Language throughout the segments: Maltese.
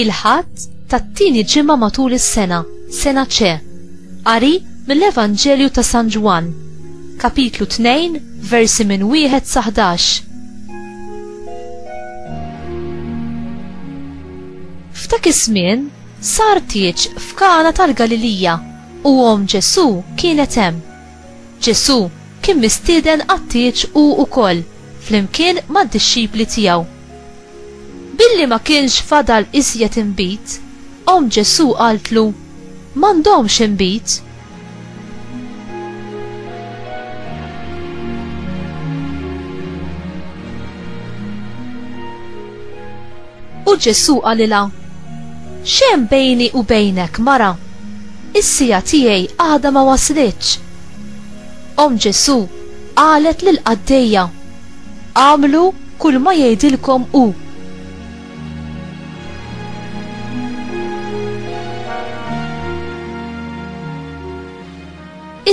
il-ħadd tat-tieni ġimgħa matul is-sena, sena ċe. Qari mill-Evanġelju ta' San Ġwann, kapitlu 2, versi minn wieħed sa 11. F'dak iż-żmien sar tieġ f'Kana tal-Galilija u omm Ġesù kienet hemm. Ġesù kien mistieden għat-tieġ hu wkoll flimkien mad-dixxipli tiegħu. Billi ma kienx fadal iżjed inbid, omm Ġesù qaltlu, M'għandhomx inbid. U Ġesu qalilha, Xem bejni u bejnek, mara, is-sija tiegħi għada ma waslitx. Om Ġesu qalet lil qaddejja, Għamlu kull ma jgħidilkom hu.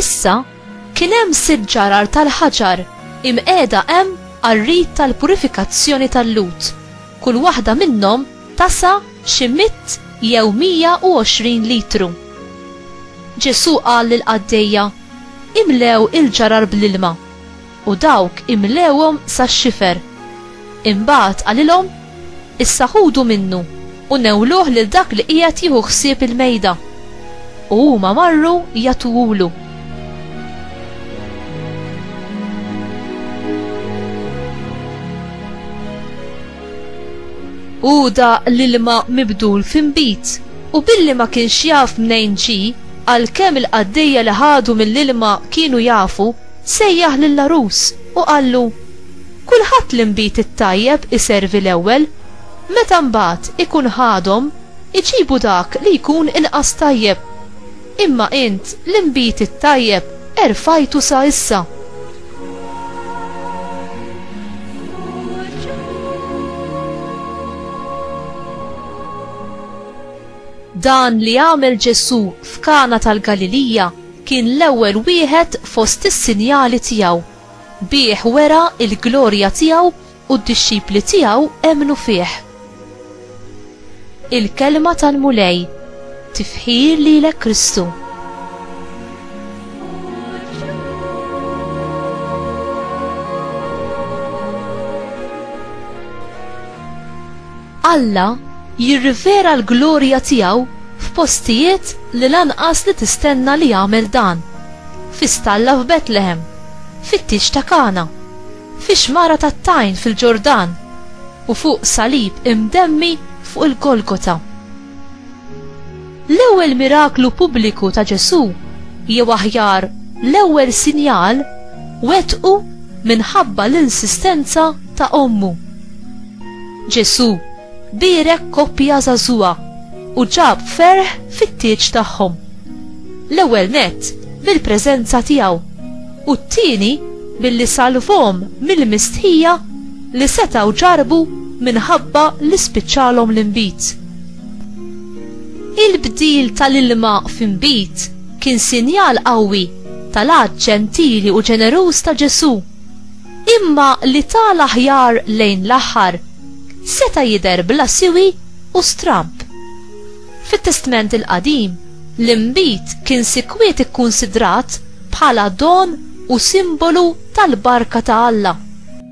Issa kien hemm sitt ġarar tal-ħaġar imqiegħda hemm għar-rit tal-purifikazzjoni tal-Lhud, kull waħda minnhom tasa' xi mitt jew mija u għoxrin litru. Ġesù qal lill-qaddejja, Imlew il-ġarar bl-ilma. u dawk imlewhom sax-xifer. Imbagħad qalilhom, Issa ħudu minnu u newluh lil dak li qiegħed jieħu ħsieb il-mejda. U huma marru jagħtuhulu. Hu daq l-ilma mibdul f'inbid u billi ma kienx jaf mnejn ġie, għalkemm il-qaddejja li ħadu mill-ilma kienu jafu, Sejjaħ lill-għarus u qallu, Kulħadd li nbid it-tajjeb iservi l-ewwel, meta mbagħad ikun ħadhom, iġibu dak li jkun inqas tajjeb. Imma int li nbid it-tajjeb erfajtu sa issa. Dan li għamel Ġesù f'Kana tal-Galilija Kien l-ewwel wieħed fost is-sinjali tiegħu. Bih wera l-glorja tiegħu u d-dixxipli tiegħu emmnu fih. Il-Kelma tal-Mulej. Tifħir lilek Kristu. Alla jirrivela l-glorja tiegħu f'postijiet li lanqas li tistenna li jagħmel dan, fi stalla f'Betlehem, fit-tieġ ta' Kana, fix-xmara tat-tajn fil-Ġordan, u fuq salib imdemmi fuq il-Golgota. L-ewwel miraklu pubbliku ta' Ġesù, jew aħjar, l-ewwel sinjal, wettqu minħabba l-insistenza ta' ommu. Ġesù bierek koppja żagħżugħa u ġab ferħ fit-tieġ tagħhom. L-ewwel nett bil-preżenza tiegħu, u t-tieni billi salvhom mill-mistħija li setgħu ġarrbu minħabba li spiċċalhom l-inbid. Il-bdil tal-ilma f'inbid kien sinjal qawwi tal-għadd ġentili u ġeneruż ta' Ġesù, imma li ta l-aħjar lejn l-aħħar seta' jidher bla siwi u stramb. Fit-Testment il-Qadim, l-inbid kien sikwiet ikkunsidrat bħala don u simbolu tal-barka ta' Alla.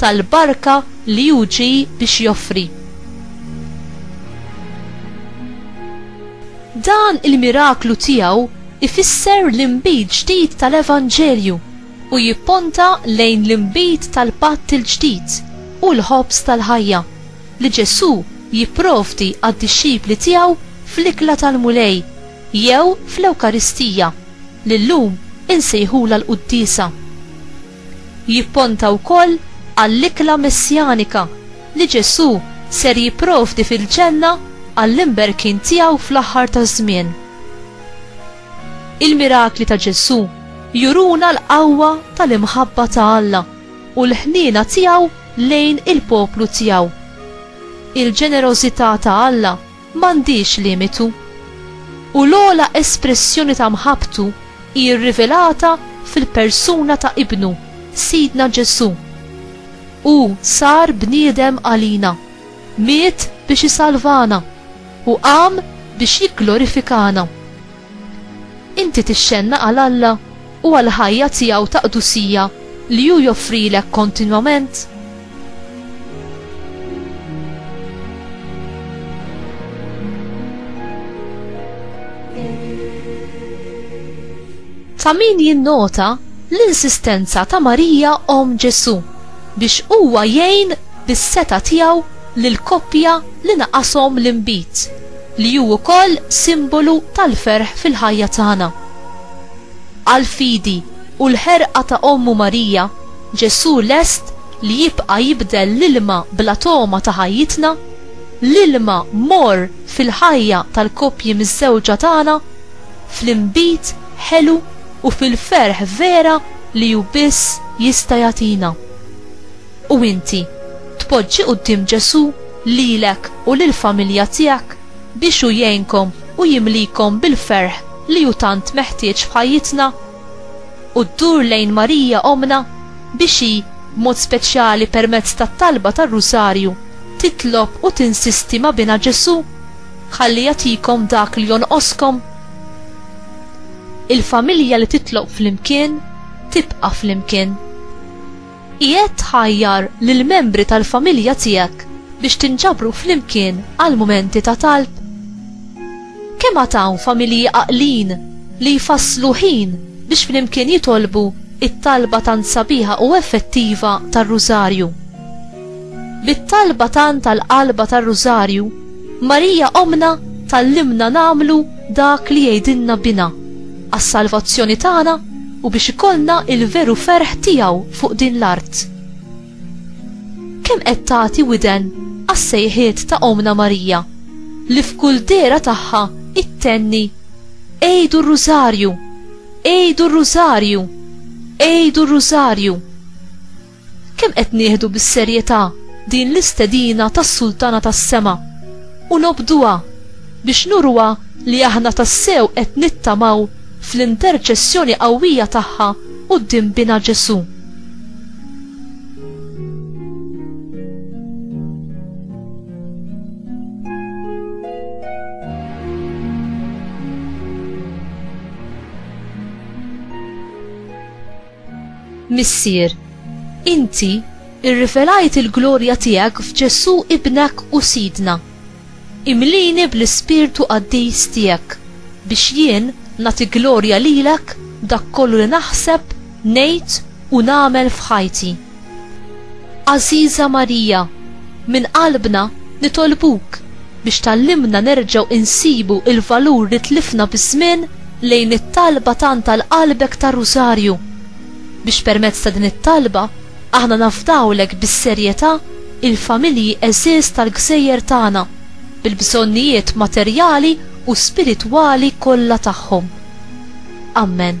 tal-barka li hu ġie biex joffri. Dan il-miraklu tiegħu ifisser l-inbid ġdid tal-evanġelju u jipponta lejn l-inbid tal-patt il-ġdid u l-ħobż tal-ħajja li Ġesù jipprovdi għad-dixxipli tiegħu fl-Ikla tal-Mulej jew fl-Ewkaristija li llum insejħulha l-Quddiesa. Jipponta wkoll għall-ikla messjanika li Ġesù ser jipprovdi fil-ġenna għall-imberkin tiegħu fl-aħħar taż-żmien. Il-mirakli ta' Ġesù juruna l-qawwa tal-imħabba ta' Alla u l-ħniena tiegħu lejn il-poplu tiegħu. Il-ġenerożità ta' Alla m'għandhiex limitu, u l-ogħla espressjoni ta' mħabbtu hi rrivelata fil-persuna ta' Ibnu, Sidna Ġesù. Hu sar bniedem għalina, miet biex isalvana, u qam biex jigglorifikana. Inti tixxennaq għal Alla u għall-ħajja tiegħu ta' qdusija li hu joffrilek kontinwament? Ta' min jinnota l-insistenza ta' Marija Om Ġesu biex huwa jgħin bis-seta tiegħu lil koppja li naqashom l-inbid, li hu wkoll simbolu tal-ferħ fil-ħajja tagħna. Għall-fidi u l-ħerqa ta' ommu Marija, Ġesù lest li jibqa' jibdel l-ilma bla togħma ta' ħajjitna, l-ilma morr fil-ħajja tal-koppji miżżewġa tagħna, fl-inbid ħelu u fil-ferħ vera li hu biss jista' jagħtina. U inti, tpoġġi quddiem Ġesù lilek u lill-familja tiegħek biex hu jgħinkom u jimlikom bil-ferħ li hu tant meħtieġ f'ħajjitna? u ddur lejn Marija Ommna biex hi, b'mod speċjali permezz tat-talba tar-Rusarju, titlob u tinsisti ma' Binha Ġesù ħalli jagħtikom dak li jonqoskom. Il-familja li titlob flimkien tibqa' flimkien. Qiegħed tħajjar lill-membri tal-familja tiegħek biex tinġabru flimkien għal mumenti ta' talb? Kemm għad hawn familji għaqlin li jfasslu ħin biex flimkien jitolbu t-talba tant sabiħa u effettiva tar-Rużarju? Bit-talba tant għall-qalba tar-Rużarju, Marija Ommna tgħallimna nagħmlu dak li jgħidilna Binha. għas-salvazzjoni tagħna u biex ikollna il-veru ferħ tiegħu fuq din l-art. Kemm qed tagħti widen għas-sejħiet ta' Omna Marija li f'kull dera tagħha ittenni Ejdu r-Rużarju, ejdu r-Rużarju, ejdu r-Rużarju. Kemm qed nieħdu bis-serjetà din l-istedina tas-Sultana tas-Sema u nobduha biex nuruha li aħna tassew qed nittamaw fl-interċessjoni qawwija tagħha quddiem Binha Ġesù. Missier, inti rrivelajt il-glorja tiegħek f'Ġesù ibnek u Sidna. Imlini bl-ispirtu qaddis tiegħek biex jien nagħti glorja lilek b'dak kollu li naħseb, ngħid u nagħmel f'ħajti. Għażiża Marija, minn qalbna nitolbuk biex tgħallimna nerġgħu insibu l-valur li tlifna biż-żmien lejn it-talba tant għal qalbek tar-Rużarju, biex permezz ta' din it-talba aħna nafdawlek bis-serjetà il-familji għeżież tal-gżejjer tagħna bil-bżonnijiet materjali u spiritwali kollha tagħhom. Ammen.